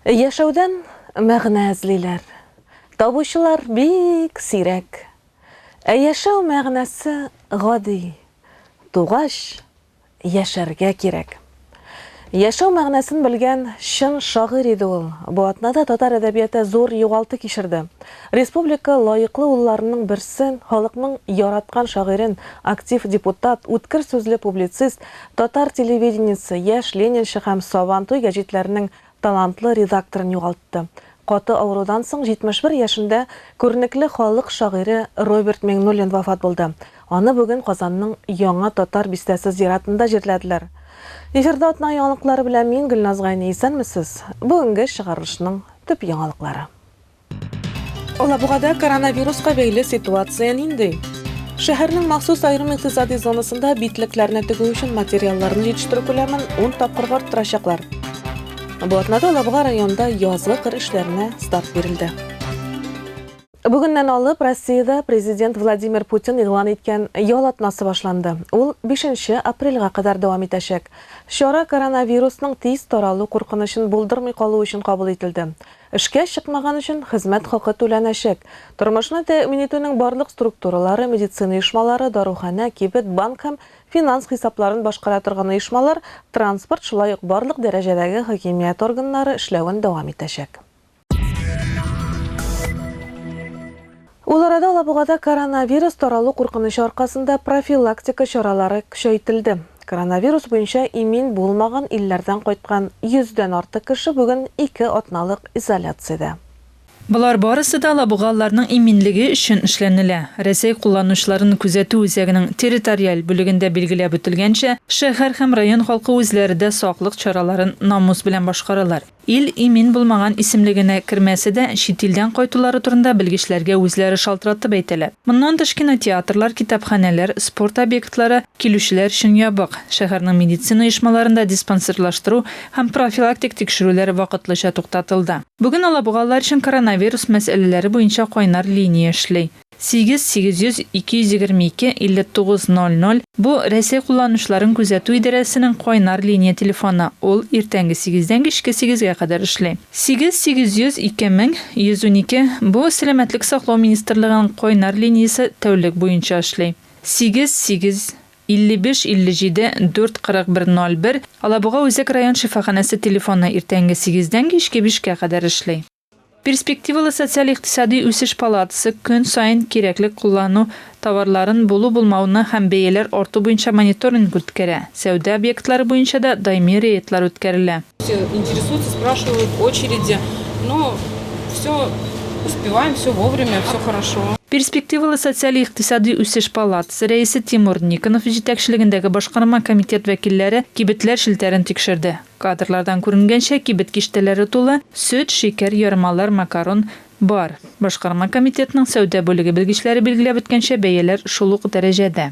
Яшәүдән мәгънә эзлиләр. Табучылар бик сирәк. Ә яшәү мәгънәсе гади. Тугач, яшәргә кирәк. Яшәү мәгънәсен белгән чын шагыйрь иде ул. Бу атнада татар әдәбияты зур югалту кичерде. Республика лаеклы улларының берсе, халыкның яраткан шагыйрен, актив депутат, үткер сүзле публицист, Татар телевидениесе Яшь Ленинчы һәм Сабантуй гәҗитләренең талантлы редакторын югалтты. Каты авырудан соң 71 яшендә күренекле халык шагыйре Роберт Миңнуллин вафат булды. Аны бүген Казанның Яңа Татар бистәсе зиратында җирләделәр. Эфирда атна яңалыклары белән мин, Гөлназ Гайни. Исәнмесез! Бүгенге чыгарылышның төп яңалыклары. Алабугада коронавируска бәйле ситуация нинди? Шәһәрнең махсус аерым икътисади зонасында битлекләрне тегү өчен материалларны җитештерү күләмен 10 тапкырга арттырачаклар. Бу атнада Алабуга районында язгы кыр эшләренә старт бирелде. Бүгеннән алып Россиядә президент Владимир Путин игълан иткән ял атнасы башланды. Ул 5 апрельгә кадәр дәвам итәчәк. Чара коронавирусның тиз таралу куркынычын булдырмый калу өчен кабул ителде. Эшкә чыкмаган өчен хезмәт хакы түләнәчәк. Тормышны тәэмин итүнең барлык структуралары, медицина оешмалары, даруханә, кибет, банк һәм финанс хисапларын башкара торган оешмалар, транспорт, шулай ук барлык дәрәҗәдәге хакимият органнары эшләвен дәвам итәчәк. Ул арада Алабугада коронавирус таралу куркынычы аркасында профилактика чаралары көчәйтелде. Коронавирус буенча имин булмаган илләрдән кайткан 100 дән артык кеше бүген ике атналык изоляциядә. Болар барысы да алабугалыларның иминлеге өчен эшләнелә. Рәсәй кулланучыларын күзәтү үзәгенең территориаль бүлегендә билгеләп үтелгәнчә, шәһәр һәм район халкы үзләре дә саклык чараларын намус белән башкаралар. Ил имин булмаган исемле генә кермәсә дә, чит илдән кайтулары турында белгечләргә үзләре шалтыратып әйтәләр. Моннан тыш кинотеатрлар, китапханәләр, спорт объектлары килүчеләр өчен ябык. Шәһәрнең медицина оешмаларында диспансерлаштыру һәм профилактик тикшерүләр вакытлыча туктатылды. Бүген алабугалылар өчен коронавирус мәсьәләләре буенча кайнар линия эшли. Сигез, сигез йөз, ике йөз егерме ике, илле тугыз, ноль ноль, бу, Рәсәй кулланучыларын күзәтү идарәсенең кайнар линия телефоны, ул иртәнге сигездән кичке сигезгә кадәр эшли. Сигез, сигез йөз, ике мең, йөз унике, бу, Сәламәтлек саклау министрлыгының кайнар линиясе тәүлек буенча эшли. Сигез, сигез, илле биш, илле җиде, дүрт, кырык бер, ноль бер, Алабуга үзәк район шифаханәсе телефоны иртәнге сигездән кичке бишкә кадәр эшли. Перспективалы социаль-икътисади үсеш палатасы көн саен кирәклек куллану товарларын булу-булмауны һәм бәяләр арту буенча мониторинг үткәрә, сәүдә объектлары буенча да даими рейдлар үткәрелә. Все интересуются, спрашивают, очереди, но все успеваем, все вовремя, все хорошо. Перспективалы социаль-икътисади үсеш палатасы рәисе Тимур Никонов җитәкчелегендәге башкарма комитет вәкилләре кибетләр челтәрен тикшерде. Кадрлардан күренгәнчә, кибет киштәләре тулы, сөт, шикәр, ярмалар, макарон, бар. Башкарма комитетның сәүдә бүлеге белгечләре билгеләп үткәнчә, бәяләр шул ук дәрәҗәдә.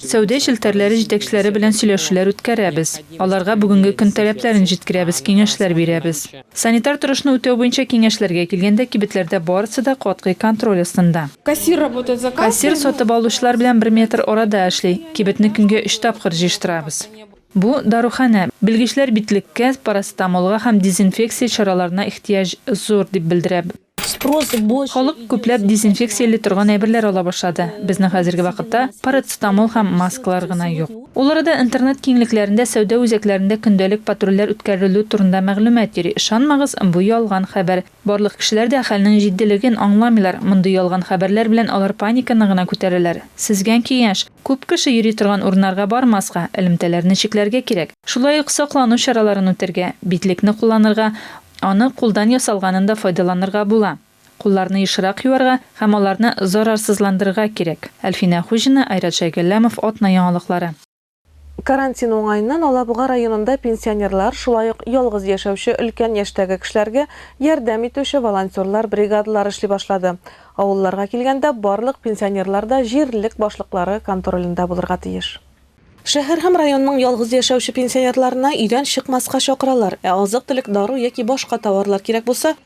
Сәүдә челтәрләре җитәкчеләре белән сөйләшүләр үткәрәбез, аларга бүгенге көн таләпләрен җиткерәбез, киңәшләр бирәбез. Санитар торышны үтәү буенча киңәшләргә килгәндә, кибетләрдә барысы да катгый контроль астында. Кассир сатып алучылар белән бер метр арада эшли, кибетне көнгә өч тапкыр җыештырабыз. Бу, даруханә. Белгечләр битлеккә, парацетамолга һәм дезинфекция чараларына ихтыяҗ зур, дип белдерә. Халык күпләп дезинфекцияли торган әйберләр ала башлады. Безнең хәзерге вакытта парацетамол һәм маскалар гына юк. Ул арада интернет киңлекләрендә сәүдә үзәкләрендә көндәлек патрульләр үткәрелү турында мәгълүмат йөри. Ышанмагыз, бу ялган хәбәр. Барлык кешеләр дә хәлнең җитдилеген аңламыйлар, мондый ялган хәбәрләр белән алар паниканы гына күтәрәләр. Сизгән киңәш, күп кеше йөри торган урыннарга бармаска, элемтәләрне чикләргә кирәк. Шулай ук саклану чараларын үтәргә, битлекне кулланырга, аны кулдан ясалганын да файдаланырга була. Кулларны ешрак юарга һәм аларны зарарсызландырырга кирәк. Әлфинә Хуҗина, Айрат Шәйгалләмов, Атна яңалыклары. Карантин уңаеннан Алабуга районында пенсионерлар, шулай ук ялгыз яшәүче өлкән яшьтәге кешеләргә ярдәм итүче волонтерлар бригадалары эшли башлады. Авылларга килгәндә, барлык пенсионерлар да җирлек башлыклары контролендә булырга тиеш. Шәһәр һәм районның ялгыз яшәүче пенсионерларына өйдән чыкмаска чакыралар, ә азык-төлек, дару яки башка товарлар кирәк булса,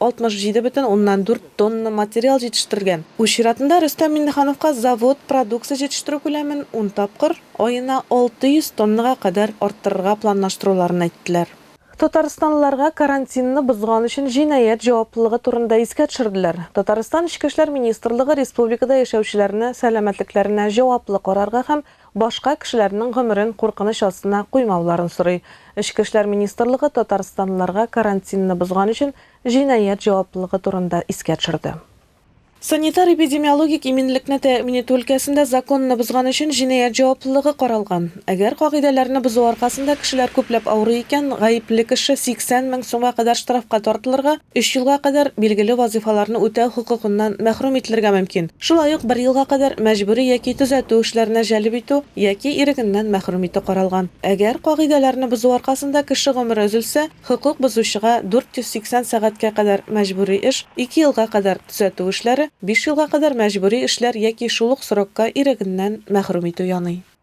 67,4 тонна материал җитештерелгән. Үз чиратында Рөстәм Миңнехановка завод продукция җитештерү күләмен ун тапкыр, аена 600 тоннага кадәр арттырырга планлаштыруларын әйттеләр. Татарстанлыларга карантинны бозган өчен җинаять җаваплылыгы турында искә төшерделәр. Татарстан Эчке эшләр министрлыгы республикада яшәүчеләрне сәламәтлекләренә җаваплы карарга һәм Башка кешеләрнең гомерен куркыныч астына куймауларын сорый. Эчке эшләр министрлыгы татарстанлыларга карантинны бозган өчен җинаять җаваплылыгы турында искә төшерде. Санитар-эпидемиологик иминлекне тәэмин итү өлкәсендә законны бозган өчен җинаять җаваплылыгы каралган. Әгәр кагыйдәләрне бозу аркасында кешеләр күпләп авырый икән, гаепле кеше 80 мең сумга кадәр штрафка тартылырга, Өч елга кадәр билгеле вазыйфаларны үтәү хокукыннан мәхрүм ителергә мөмкин, шулай ук бер елга кадәр мәҗбүри яки төзәтү эшләренә җәлеп итү яки ирегеннән мәхрүм итү каралган. Әгәр кагыйдәләрне бозу аркасында кеше гомере өзелсә, хокук бозучыга 480 сәгатькә кадәр мәҗбүри эш, ике елга кадәр төзәтү эшләре, биш елга кадәр мәҗбүри эшләр яки шул ук срокка ирегеннән мәхрүм итү яный.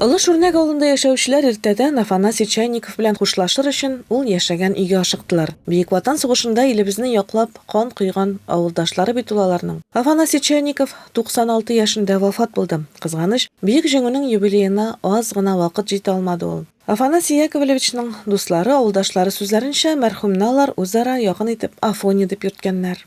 Олы Шүрнәк авылында яшәүчеләр иртәдән Афанасий Чайников белән хушлашыр өчен ул яшәгән өйгә ашыктылар. Бөек Ватан сугышында илебезне яклап кан койган авылдашлары бит ул аларның. Афанасий Чайников 96 яшендә вафат булды. Кызганыч, Бөек Җиңүнең юбилеена аз гына вакыт җитә алмады ул. Афанасий Яковлевичның дуслары, авылдашлары сүзләренчә, мәрхүмне алар үзара якын итеп Афоня дип йөрткәннәр.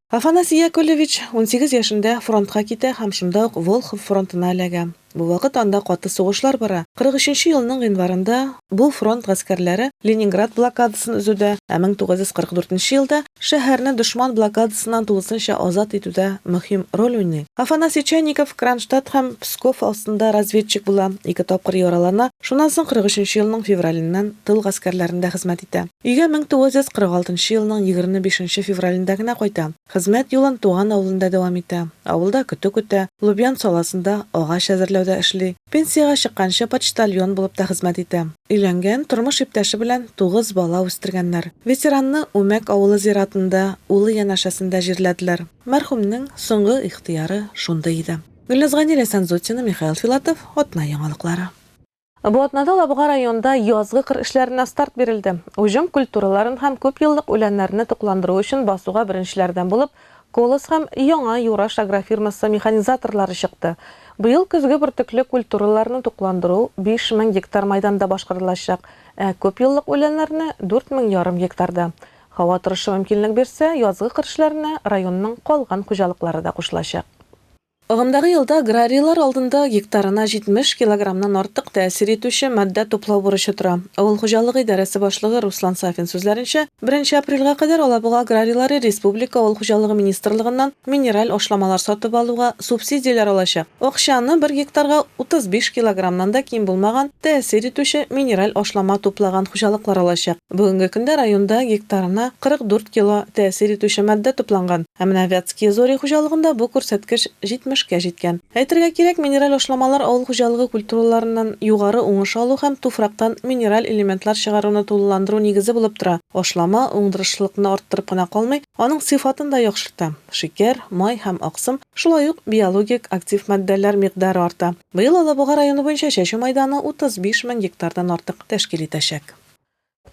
Афанасий Яковлевич унсигез яшендә фронтка китә һәм шунда ук Волхов фронтына эләгә. Бу вакыт анда каты сугышлар бара. Кырык өченче елның гыйнварында бу фронт гаскәрләре Ленинград блокадасын өзүдә, ә мең тугыз йөз кырык дүртенче елда шәһәрне дошман блокадасыннан тулысынча азат итүдә мөһим роль уйный. Афанасий Чайников Кронштадт һәм Псков астында разведчик була, ике тапкыр яралана, шуннан соң кырык өченче елның февраленнән тыл гаскәрләрендә хезмәт итә. Өйгә 1946 нчы елның 25 нче февралендә генә кайта. Хезмәт юлын туган авылында дәвам итә. Авылда көтү көтә, Лубян саласында, агач әзерләүдә эшли. Пенсиягә чыкканчы почтальон булып та хезмәт итә. Өйләнгән, тормыш иптәше белән тугыз бала үстергәннәр. Ветеранны Үмәк авылы зиратында, улы янәшәсендә җирләделәр. Мәрхүмнең соңгы ихтыяры шундый иде. Гөлназ Гани, Ләйсән Зотина, Михаил Филатов, Атна яңалыклары. Бу атнада Лабуга районында язгы кыр эшләренә старт бирелде. Уҗым культураларын һәм күпьеллык үләннәрне тукландыру өчен басуга беренчеләрдән булып Колос һәм Яңа Юраш агрофирмасы механизаторлары чыкты. Быел көзге бөртекле культураларны тукландыру 5000 гектар мәйданда башкарылачак, ә күпьеллык үләннәрне, дүрт мең ярым гектарда. Һава торышы мөмкинлек бирсә, язгы кыр эшләренә районның калган хуҗалыклары да кушылачак. Агымдагы елда аграрийлар алдында гектарына 70 килограммнан артык тәэсир итүче матдә туплау бурычы тора. Авыл хуҗалыгы идарәсе башлыгы Руслан Сафин сүзләренчә, беренче апрельгә кадәр Алабуга аграрийлары республика авыл хуҗалыгы министрлыгыннан минераль ашламалар сатып алуга субсидияләр алачак. Акчаны бер гектарга 35 килограммнан да ким булмаган тәэсир итүче минераль ашлама туплаган хуҗалыклар алачак. Бүгенге көндә районда гектарына 44 кило тәэсир итүче матдә тупланган, ә менә Вятские Зори хуҗалыгында бу күрсәткеч 70 кә җиткән. Әйтергә кирәк, минераль ашламалар авыл хуҗалыгы культураларыннан югары уңыш алу һәм туфрактан минераль элементлар чыгаруны тулыландыру нигезе булып тора. Ашлама уңдырышлылыкны арттырып кына калмый, аның сыйфатын да яхшырта. Шикәр, май һәм аксым, шулай ук биологик актив матдәләр микъдары арта. Быел Алабуга районы буенча чәчү мәйданы 35 мең гектардан артык тәшкил итәчәк.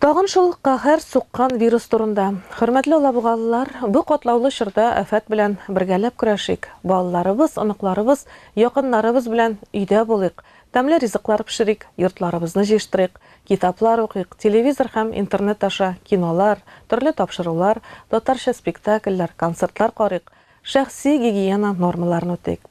Тагын шул каһәр суккан вирус турында. Хөрмәтле алабугалылар, бу катлаулы чорда афәт белән бергәләп көрәшик, балаларыбыз, оныкларыбыз, якыннарыбыз белән өйдә булыйк, тәмле ризыклар пешерик, йортларыбызны җыештырыйк, китаплар укыйк, телевизор һәм интернет аша кинолар, төрле тапшырулар, татарча спектакльләр, концертлар карыйк, шәхси гигиена нормаларын үтик.